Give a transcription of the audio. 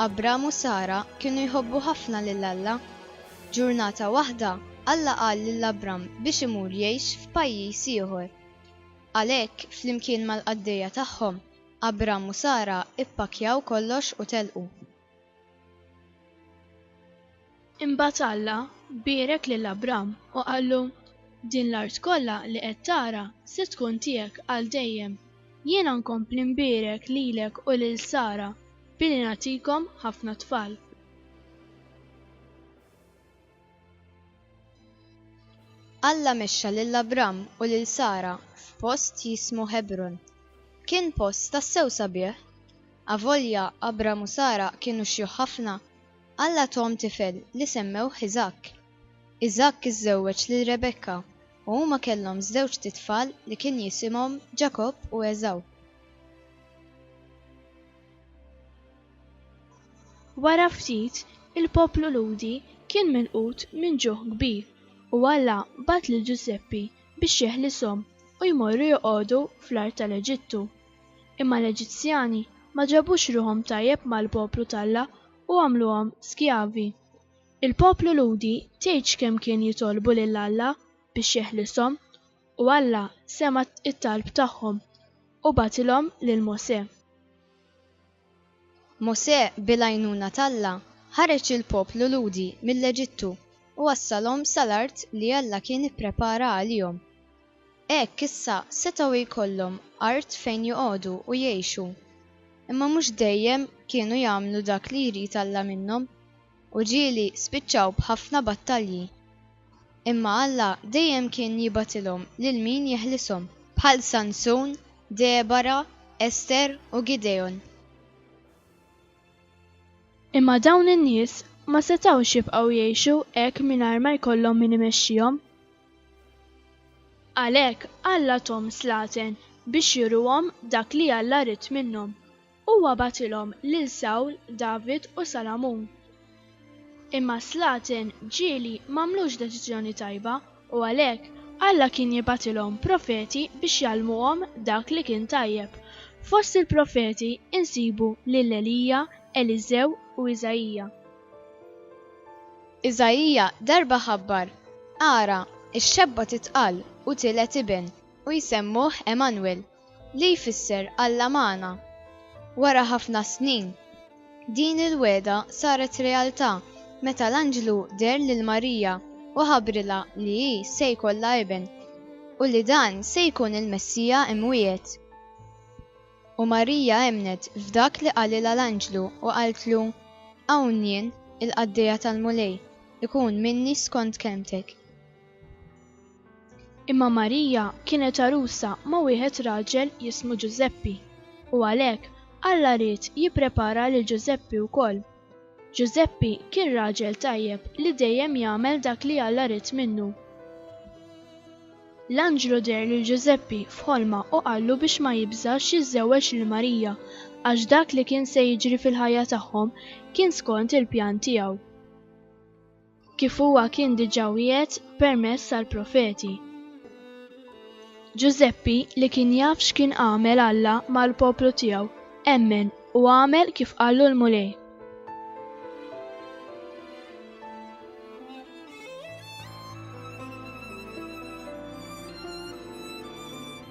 Abram u Sara kienu jħobbu ħafna lil Alla. Ġurnata waħda, Alla qal lil Abram biex imur jgħix f'pajjiż ieħor. Għalhekk, flimkien mal-qaddejja tagħhom, Abram u Sara ppakkjaw kollox u telqu. Imbagħad Alla bierek lil Abram u qallu, Din l-art kollha li qed tara se tkun tiegħek għal dejjem. Jiena nkompli nbierek lilek u lil Sara billi nagħtikom ħafna tfal. Alla mexxa lil Abram u lil Sara f'post jismu Ħebron. Kien post tassew sabiħ. Avolja Abram u Sara kienu xjuħ ħafna, Alla tuhom tifel li semmewh Iżakk. Iżakk iżżewweġ lil Rebekka u huma kellhom żewġt itfal li kien jisimhom Ġakobb u Għeżaw. Wara ftit, il-poplu Lhudi kien milqut minn ġuħ kbir, u Alla bagħat lil Ġużeppi biex jeħlishom u jmorru joqogħdu fl-art tal-Eġittu. Imma l-Eġizzjani ma ġabux ruħhom tajjeb mal-poplu t'Alla u għamluhom skjavi. Il-poplu Lhudi tgħidx kemm kien jitolbu lil Alla biex jeħlishom, u Alla sema' t-talb tagħhom u bagħatilhom lil Mosè. Mosè bil-għajnuna t'Alla ħareġ il-poplu Lhudi mill-Eġittu u wassalhom sa l-art li Alla kien ipprepara għalihom. Hekk issa setgħu jkollhom art fejn joqogħdu u jgħixu. Imma mhux dejjem kienu jagħmlu dak li jrid Alla minnhom. U ġieli spiċċaw b'ħafna battalji. Imma Alla dejjem kien jibgħatilhom lil min jeħlishom, bħal Sansun, Debara, Ester, u Gidegħon. Imma dawn in-nies ma setgħux jibqgħu jgħixu hekk mingħajr ma jkollhom min imexxihom. Għalhekk Alla thom slaten biex juruhom dak li Alla ried minnhom. Huwa bagħatilhom lil Sawl, David u Salamun. Imma s-slaten ġieli m'għamlux deċiżjoni tajba u għalhekk Alla kien jibgħatilhom profeti biex jgħallmuhom dak li kien tajjeb. Fost il-profeti nsibu lil Elija, Eliżew u Iżaija. Iżaija darba ħabbar, Ara, ix-xebba titqal u tiled iben, u jsemmuh Emanwil, li jfisser Alla magħna. Wara ħafna snin, din il-wegħda saret realtà meta l-anġlu deher lil Marija u ħabbrilha li hi se jkollha iben u li dan se jkun il-Messija mwiegħed. U Marija emmnet f'dak li qalilha l-anġlu u qaltlu, Hawn jien, il-qaddejja tal-Mulej, ikun minni skont kelmtek. Imma Marija kienet għarusa ma' wieħed raġel jismu Ġużeppi, u għalhekk Alla ried jipprepara lil Ġużeppi wkoll. Ġużeppi kien raġel tajjeb li dejjem jagħmel dak li Alla ried minnu. L-anġlu deher lil Ġużeppi f'ħolma u qallu biex ma jibżax jiżżewweġ lil Marija, għax dak li kien se jiġri fil-ħajja tagħhom kien skont il-pjan tiegħu. kif huwa kien diġà wiegħed permezz tal-profeti. Ġużeppi, li kien jaf x'kien għamel Alla mal-poplu tiegħu, emmen u għamel kif qallu l-Mulej.